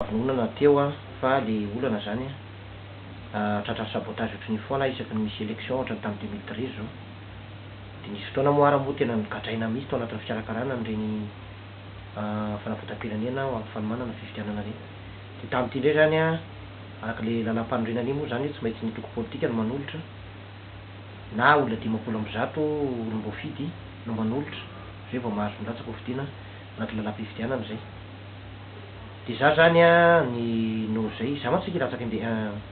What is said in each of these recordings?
Vonona teo aho fa le olana zany tratran'ny sabotage ohatry ny foana isaky ny misy election ohatra ny tamin'ny deux mille treize zao. De nisy fotoana moa ara moa tena nogadraina mihitsy tao anatin'ny fikarakarana an'ireny fanavotam-pirenena ho amin'ny fanomanana fifidianana ireny. De tamin'ity indray zany araka le lalam-panorenana iny moa zany io tsy maintsy ny antoko politika no manolotra na olona dimampolo amby zato olom-boafidy no manolotra zay vao mahazo milatsaka hofidiana. anaty lalam-pifidianana izay. Dia izaho izany an, ny noho izay, izaho mantsy tsy te hilatsaka inde,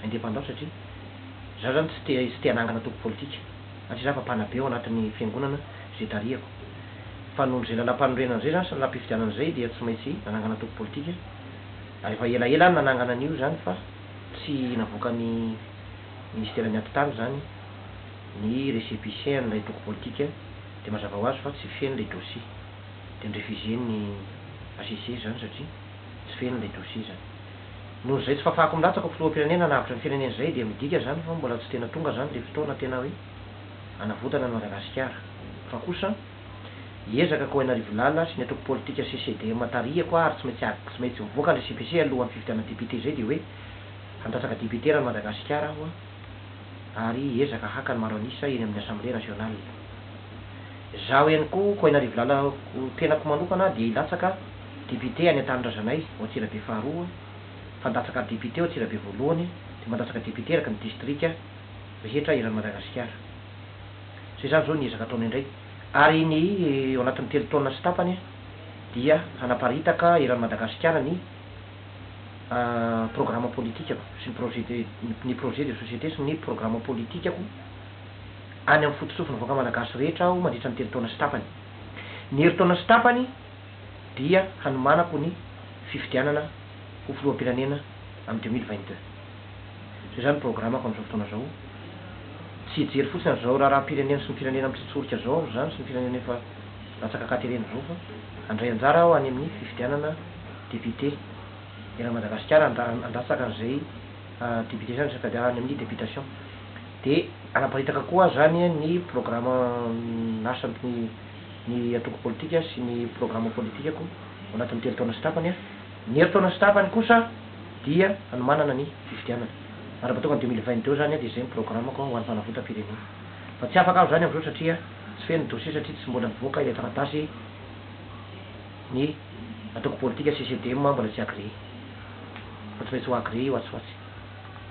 indépendant satria izaho izany tsy te, tsy te hanangana antoko politika, satria izaho efa mpanabe ao anatin'ny fiangonana izay tarihako. Fa noho izay lalam-panorenana izay izany sy lalam-pifidianana izay dia tsy maintsy nanangana antoko politika. Ary efa elaela aho no nanangana an'io izany fa tsy navoakan'ny Ministeran'ny Atitany izany ny récépissé an'ilay antoko politika dia mazava ho azy fa tsy feno ilay dossier. dia ni-refuser-n'ny HCC izany satria tsy feno ilay dossier izany. Noho izay tsy fafako milatsaka ho filoham-pirenena hanavotra ny firenena izay dia midika izany fa mbola tsy tena tonga izany ilay fotoana tena hoe hanavotana an'i Madagasikara fa kosa hiezaka ko Ainarivo Lala sy ny antoko politika CCDM tarihako ary tsy maintsy tsy maintsy mivoaka ilay CPC alohan'ny fifidianana député izay dia hoe handatsaka député eran'i Madagasikara aho ary hiezaka haka ny maro an'isa eny amin'ny Assemblée nationale. Izaho ihany koa, Koaina Rivolala, ho tenako manokana dia hilatsaka député any Antanindrazanay ao Antsirabe faharoa, fandatsaka député ao Antsirabe voalohany, dia mandatsaka député eraky ny distrika rehetra eran'i Madagasikara. Izay izany izao ny ezaka ataonay indray. Ary ny ao anatin'ny telo taona sy tapany dia hanaparitaka eran'i Madagasikara ny. programa politikako sy ny projet de ny projet de société sy ny programa politikako any amin'ny fotosofin'ny vahoaka malagasy rehetra aho mandritra ny telo taona sy tapany. Ny herintaona sy tapany dia hanomanako ny fifidianana ho filoham-pirenena amin'ny deux mille vingt deux. Izay izany ny programako amin'izao fotoana izao. Tsy hijery fotsiny an'izao raharaham-pirenena sy ny firenena mitsotsorika izao aho izany sy ny firenena efa latsaka an-katerena izao fa handray anjara aho any amin'ny fifidianana Député. Eran'i Madagasikara handatsaka an'izay Député izany resaka any amin'ny Députation. Dia hanaparitaka koa izany ny programa nasan'ny ny antoko politika sy ny programa politikako ao anatin'ny telo taona sy tapany. Ny herintaona sy tapany kosa dia hanomanana ny fifidianana. Ary mba tonga ny deux mille vingt deux izany dia izay ny programako ho an'ny fanavotam-pirenena. Fa tsy afaka aho izany amin'izao satria tsy feno ny dossier satria tsy mbola nivoaka ilay taratasy. Ny antoko politika CCDM mbola tsy agréé. Fa tsy maintsy ho agréé io atsy ho atsy.